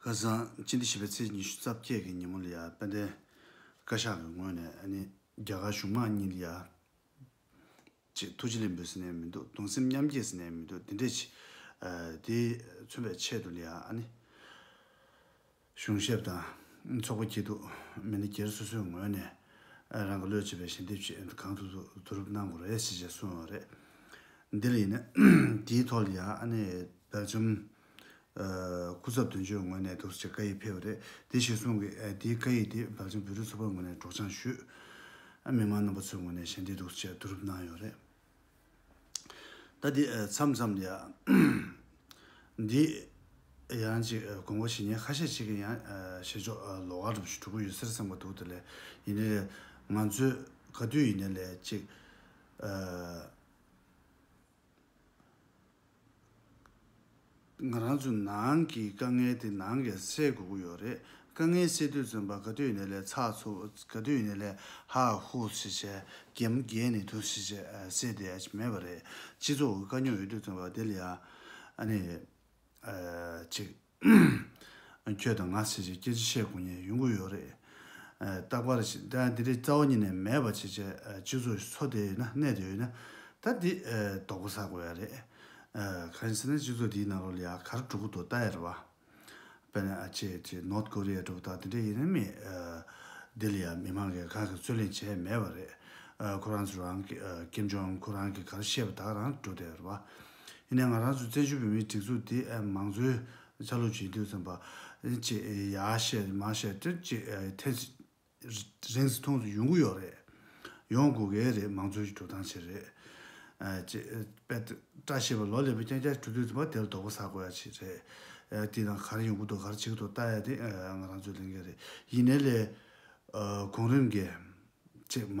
སྐལ་བཟང་སྤྱི་འདི་བྱིས་པའི་ཚེས་ཉི་ཤུ་རྩ་བརྒྱད་ཀྱི་ཉིན་མོ་ལི་ཡ་དཔལ་ལྡན་བཀའ་ཤག་གི་ངོས་ནས་རྒྱ་གར་གཞུང་དམངས་གཉིས་ལི་ཡ་ཆེད་ཐུགས་རྗེ་ལེན་འབུལ་ཟེར་ནས་མི་འདུག་གདུང་སེམས་མཉམ་སྐྱེད་ཟེར་ནས་མི་འདུག་དེ་འདྲས་ཆེ། དེ་མཚོན་པའི་ཆེད་དུ་ལི་ཡ་གཞུང་ཞབས་དང་ཚོགས་པ་སྐྱིད་སྡུག་མི་སྣ་སྒེར་སོ་སོའི་ངོས་ནས་རང་གི་བློས་བྱས་པའི་ཞལ་འདེབས་ཆེད་གང་ཐུབ་བསྡུ་རུབ་གནང་དགོས་རེད་ཞེས་བཤད་སོང་བ་རེད། འདི་ལ་ཡིན་ན་དེའི་ཐོག་ལི་ཡ་དཔལ་འབྱོར། སྐུ་ཚབ་དོན་གཅོད་ངོས་ནས་དུར་བྱའི་བཀའ་ཡིག་ཕེབས་པ་རེད་དེ་ཞེས་གསུངས། དེའི་བཀའ་ཡིག་དེ་བདག་ཅག་བོད་རིགས་ཚོགས་པ་ངོས་ནས་སྒྲོག་སྦྱང་ཞུས། མི་མང་རྣམ་པ་ཚོའི་ངོས་ནས་ཞལ་འདེབས་དུར་བྱས་བསྡུ་རུབ་གནང་ཡོད་རེད། ད་དེ་མཚམས་མཚམས་ཡ། འདི་ཡང་ཅིག་དགོངས་པ་ཞེ་སྙེད་ཁ་ཤས་ཅིག་གིས་ཡང་བཤད་ཆོག་ལོ་ག་དྲུག་ཅུ་དྲུག་པོ་ཡོད་སེར་གསུངས་པ་འདུག་དེ་ལས་ཡིན་ནའི་ལས་ང་ཚོས་ག་དུས་ཡིན་ནའི་ལས་ཅིག། ང་རང་ཚོའི་ནང་གི་དཀའ་ངལ་དེ་ནང་གི་སེལ་དགོས་ཀྱི་ཡོད་རེད། དཀའ་ངལ་སེལ་དུས་བཙོན་པ་ག་དུས་ནས་ལས་ཚགས་ཚུགས་ག་དུས་ནས་ལས་ཧ་ཧུ་ཞེས་བྱས་རྒྱལ་མོ་རྒྱལ་ནས་དུ་ཞེས་བྱས་སེ་དེ་མེད་པ་རེད། སྤྱི་ཚོགས་ཀྱི་དཀའ་རྙོག་ཡོད་དུས་བཙོན་པ་དེ་ལས་ཡག་ཨ་ནི། ཅིག། ཁྱོད་དང་ང་བྱས་བྱས་སྐད་ཅིག་བཤད་དགོས་ངེས་ཡོང་གི་ཡོད་རེད། རྟག་པར་ཞིག་ད་འདི་རིགས་རྩ་བ་ཉིད་ནས་མེད་པ་བྱས་བྱས་སྤྱི་ཚོགས་ཀྱི་ཚོ་དེ་ཡོད་ན་གནས་དེ་ཡོད་ན། ད་འདི་དོག་པོ་ཟ་དགོས་ཡ་རེད། གང་ཞིག་ཟེར་ན་སྤྱི་ཚོགས་འདིའི་ནང་ལོ་ལེ་ག་རུ་འགྲོ་གི་འདུག་ད་ཡ་རེད་བ། དཔེར་ན་ཨ་ཅེ་ཅེ་ནོར་ཀོ་རི་ཡ་འགྲོ་གི་ད་འདི་འདྲ་ཡིན་ནི་མེད། འདི་ལ་ཡ་མི་མང་གིས་གང་གི་རྩོད་གླེང་བྱས་མེད་བ་རེད། ཁོ་རང་ཚོ་རང་གིས་ཀེམ་ཇོང་ཨུན་ཁོ་རང་གིས་ག་རུ་བཤད་པ་དག་རང་འགྲོ་དེ་ཡ་རེད་བ། ཡིན་ནའི་ང་རང་ཚོའི་བཙན་བྱོལ་བོད་མིའི་སྒྲིག་འཛུགས་དེ་མང་གཙོའི་ཆ་ལུགས་བྱེད་འདོད་བརྩམས་པ། ཅེས་ཡ་བཤད་མ་བཤད་དེ་ཅེས་ཐེངས་རེ་རེ་མཐོང་དུ་ཡོང་གི་ཡོད་རེད། ཡོང་དགོས་གལ་རེད་མང་གཙོའི་འགྲོ་སྟངས་བྱེད་རེད། ཅེས་པད་བཀྲ་ཤིས་པ་ལོ་ལེགས་པའི་སྐྱ་སྐྱ་གྲུ་དུས་བ་དེ་ལ་དོགས་པ་ཟ་དགོས་ཡ་ཆེ་རེད། དེས་ན་ག་རེ་ཡོང་གི་འདུག་ག་རེ་བྱེད་ཀྱི་འདུག་བལྟ་ཡ་དེ་ང་རང་ཚོའི་ལས་འགན་རེད། ཡིན་ནའི་ལས། གོང་རིམ་འགས། ཅེས་མ།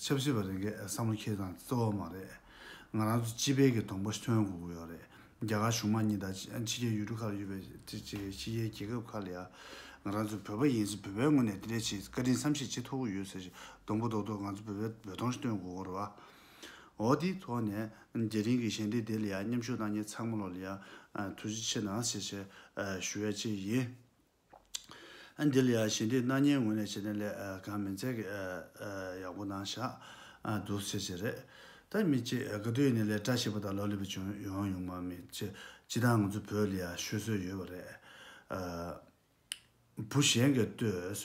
ཆབ་སྲིད་པ་རེ་འགས་བསམ་བློ་འཁྱེར་སྟངས་འདི་གཙོ་བོ་མ་རེད། ང་རང་ཚོ་སྤྱི་ཕལ་གྱི་སྡོང་པོ་ཐོན་དགོས་ཀྱི་ཡོད་རེད། རྒྱ་གར་གཞུང་མང་གཉིས་དང་ཕྱི་རྒྱལ་ཡུལ་གྲུ་ཁག་ལ་ཡོད་པའི་ཕྱི་རྒྱལ་རྒྱལ་ཁབ་ཁག་ལ་ཡང་ང་རང་ཚོ་བོད་པ་ཡིན་ཕྱིན་བོད་པའི་ངོས་ནས་དེ་འདྲའི་ཆེད་བཀའ་དྲིན་བསམ་ཤེས་བྱེད་ཐུབ་ཀྱི་ཡོད་ཟེར་བཞིན་སྡོང་པོ་རྡོག་རྡོག་ང་ཚོ་བོད་པའི་འབོད་སྟོང་ཞིག་སྟོན་དགོས་ཀྱི་རེད། འོ་དེའི་ཐོག་ནས་རྒྱལ་ཕྲན་གྱི་ཞལ་འདེབས་དེ་ལ་ཡང་མཉམ་ཞུགས་གནང་མཁན་ཚང་མ་ལ་ཡང་ཐུགས་རྗེ་ཆེ་གནང་ཞེས་ཞུ་ཡ་བཅས་ཡིན། ཨ། འདི་ལ་ཡང་ཞི་འདིས་སྣང་བརྙན་ངོས་ནས་བྱེད་ནས་ལས་གང་མི་མཛད་ཀི། ཡག་པོ་གནང་ཤག། སྡུག་བསེལ་བྱེད་རེད། ད་མི་བྱེད་ག་དུས་ནས་ལས་བཀྲ་ཤིས་པོ་དང་ལོ་ལེགས་པོ་བྱུང་ཡོང་ཡོང་མ་མི་བྱེད་སྤྱི་དང་ང་ཚོ་བོད་ལ་ཡང་ཤོད་སྲོལ་ཡོད་པ་རེད། བུ་གཞན་གི་ལྟོས།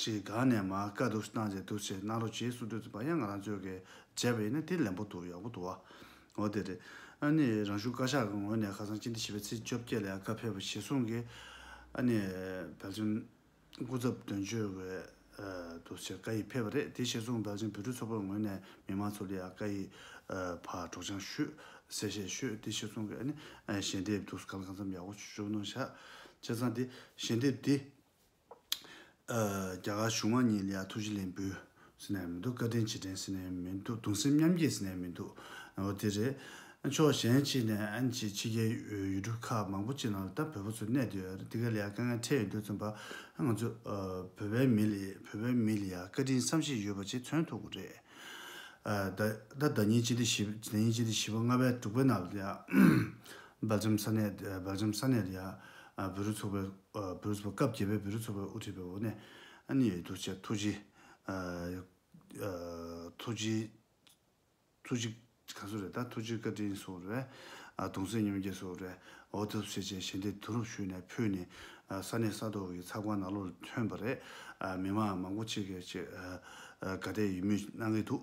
ཅེས་དགའ་ནས་མ་དགའ་འདུག་སྣང་བྱེད་འདུ་བྱེད་སྣང་རོ་བྱེད་སུ་འདོད་ཚིག་པ་ཡང་ང་རང་ཚོད་ཀྱིས་བྱས་པ་ཡིན་ན་དེ་ལན་པོ་འདུག་ཡག་པོ་འདུག་བ། འོ་དེ་རེད། ཨ་ནི་རང་གཞུང་བཀའ་ཤག་གི་ངོས་ནས་ཁ་སང་སྤྱི་འཐུས་བྱིས་པའི་ཚེས་བཅོ་བརྒྱད་ལ་ཡང་བཀའ་ཕེབས་པ་ཞེ་གསུངས་ཀྱི། ཨ་ནི་བལ་ཆེན། སྐུ་ཚབ་དོན་གཅོད་བས། འདུ་བྱེད་བཀའ་ཡིག་ཕེབས་པ་རེད་དེ་ཞེ་གསུངས་བལ་ཆེན་བོད་ཕྲུག་ཚོགས་པའི་ངོས་ནས་མི་མང་ཚོ་ལ་ཡང་བཀའ་ཡིག། ཕར་སྒྲོག་སྦྱང་ཞུ། གསལ་བཤད་ཞུ་དེ་ཞེ་གསུངས་ཀྱི་ཨ་ནི། ཞལ་འདེབས་འདུག་ག་ལ་གང་འཚམས་ཡག་པོ་བྱུང་ནོ་ཤག། བྱས་ཙང་དེ་ཞལ་འདེབས་འདི། རྒྱ་གར་གཞུང་མང་གཉིས་ལ་ཡང་ཐུགས་རྗེ་ལན་འབུལ། ཟེར་ནས་མི་འདུག་བཀའ་དྲིན་ཇི་དྲན་ཟེར་ནས་མི་འདུག་གདུང་སེམས་མཉམ་སྐྱེད་ཟེར་ནས་མི་འདུག་ང་བ་དེ་རེད། ཕྱོགས་གཞན་གཅིག་ནས་ཨན་ཅིག་ཕྱི་རྒྱལ་ཡུལ་གྲུ་ཁག་མང་པོ་གཅིག་ནང་ལྟ་བོད་པོ་ཚོ་གནས་འདི་ཡོད་འདི་ག་ལ་ཡང་དཀའ་ངལ་འཕྲད་ཡོད་འདུག་བཙུན་པ་ང་ཚོ་བོད་པའི་མི་ལ་བོད་པའི་མི་ལ་ཡང་བཀའ་དྲིན་བསམ་ཤེས་ཡོད་པ་ཆེ་མཚོན་ཐུག་གི་རེད། ད་ཉིན་སྤྱི་ལེ་བཞི་བ་ལྔ་པའི་དྲུག་པའི་ནང་ལ་ཡང། སྦེལ་ཇམ་ས་གནས Belgium ས་གནས་ལ་བེ་རུ་ཚོགས་པའི་བེ་རུ་ཚོགས་པ་སྐབས་བརྒྱད་པའི་བེ་རུ་ཚོགས་པའི་དབུ་ཁྲིད་པའི་འོག་ནས་ཡོད་འདུག་ཅེས་ཐུགས་རྗེ་ཐུགས་རྗེ་ཐུགས་རྗེ་ག་ཚོད་རེད་ད་ཐུགས་རྗེ་བཀའ་དྲིན་སོགས་རེད་གདུང་སེམས་མཉམ་སྐྱེད་སོགས་རེད་འོ་ཐབས་ཟེར་བཅས་ཞལ་འདེབས་བསྡུ་རུབ་ཞུས་ནས་ཕུལ་ནས་ས་གནས་ས་ཐོག་གི་ཚགས་པར་ནག་ལོར་ཐོན་པ་རེད་མི་མང་མང་པོ་ཅིག་གིས་དགའ་དད་ཡིད་མོས་གནང་གི་འདུག།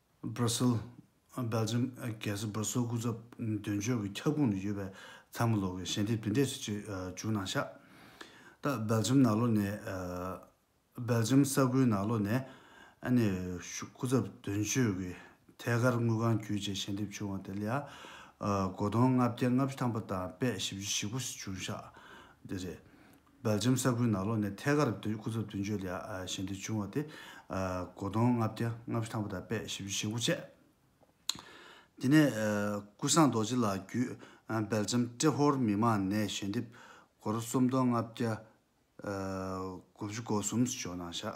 Brussel། Belgium། གལ་སྲིད་སྦར་སིལ་སྐུ་ཚབ་དོན་གཅོད་ཀྱི་ཁྱབ་ཁོངས་ནས་ཡོད་པའི་ཚ་མོ་ལོག་གི་ཞལ་འདེབས་བདུན་སྡེ་སུ་གཅིག་བྱུང་ན་ཤ་སྟག Belgium ནགས་ལོ་ནས། Belgium། ས་ཁུལ་ནགས་ལོ་ནས། ནས་སྐུ་ཚབ་དོན་གཅོད་ཀྱི་ཐད་ཀར་དངུལ་ཁང་བརྒྱུད་བཅས་ཞལ་འདེབས་བྱུང་བ་དེ་ལ་ཡང། སྒོ་སྟོང་ལྔ་བརྒྱ་ལྔ་བཅུ་ཐམ་པ་དང་པད་བཞི་བཅུ་བཞི་པོ་བྱུང་ཤ་སྟག་དེ་རེད། སྦེལ་ཇམ་ས་ཁུལ་ནགས་ལོག་ནས་ཐད་ཀར་སྐུ་ཚབ་མདུན་བསྐྱོད་ལ་ཞལ་འདེབས་བྱུང་བ་སྟེ། སྒོ་དོང་ལྔ་བརྒྱ་ལྔ་བཅུ་ཐང་པོ་དང་པད་བཞི་བཅུ་ཞེ་དགུ་བཅས། དེ་ནས་ཀུན་བཟང་རྡོ་རྗེ་ལགས་བརྒྱུད་སྦེལ་ཇམ་ཏྲེ་ཧོར་མི་མང་ནས་ཞལ་འདེབས་སྒོར་རྩོམ་སྟོང་ལྔ་བརྒྱ་དགུ་བཅུ་གོ་གསུམ་ཇོ་ནང་ཤག།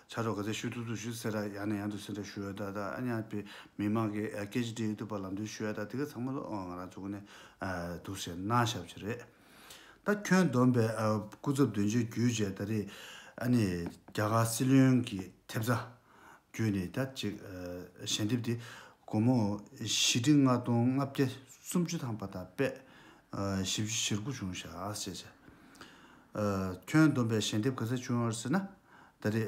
ཕྱག་རོགས་ག་ཚད་ཞུ་ཐུབ་ཐུབ་ཞུ་ཟེར་ར་ཡང་ནས་ཡང་དུ་ཟེར་འདྲ་ཞུ་ཡོད་ད་ད་ཨ་ཉག་པའི་མི་མང་གི་སྐད་ཅིག་དྲིས་ཡོད་དུས་པ་ལམ་སྟོན་ཞུ་ཡ་ད་དེ་ག་ཚང་མ་ལོ་ང་རང་ཚོ་གོ་ནས་འདུག་ཟེར་ན་ཞབས་ཀྱི་རེད། ད་ཁྱོད་བསྡོམས་པའི་སྐུ་ཚབ་དོན་གཅོད་བརྒྱུད་བཅས་ད་རེས་ཨ་ནི་རྒྱ་གར་སྲིད་བློན་གྱི་ཐེབས་རྩ་བརྒྱུད་ནས་ད་ཅིག་ཞལ་འདེབས་དེ་སྒོར་མོ་བཞི་ཁྲི་ལྔ་སྟོང་ལྔ་བརྒྱ་སུམ་ཅུ་ཐམ་པ་དང་པད་བཞི་བཞིར་དགུ་བྱུང་ཞག་ཟེར་བྱས། ཁྱོད་བསྡོམས་པའི་ཞལ་འདེབས་ག་ཚད་བྱུང་ཟེར་ན། ད་རེས་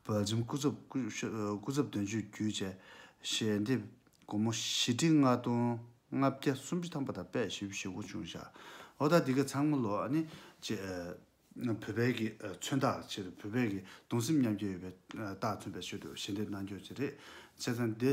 བོད་ལྗོངས་སྐུ་ཚབ་དོན་གཅོད་བརྒྱུད་བཅས་ཞལ་འདེབས་སྒོར་མོ་བཞི་ཁྲི་ལྔ་སྟོང་ལྔ་བརྒྱ་སུམ་ཅུ་ཐམ་པ་དང་པད་ཞི་བཞི་བོ་ཆུང་ཞག་འོ་ད་འདི་ག་ཚང་མ་ལོ་ནི་བཅས་བོད་བལ་གྱི་མཚོན་རྟགས་ཕྱིར་བོད་བལ་གྱི་གདུང་སེམས་མཉམ་སྐྱེད་ཡོད་པའི་རྟགས་མཚོན་པའི་ཆེད་དུ་ཞལ་འདེབས་གནང་རྒྱུ་བཅས་རེད་བྱས་ཙང་འདི།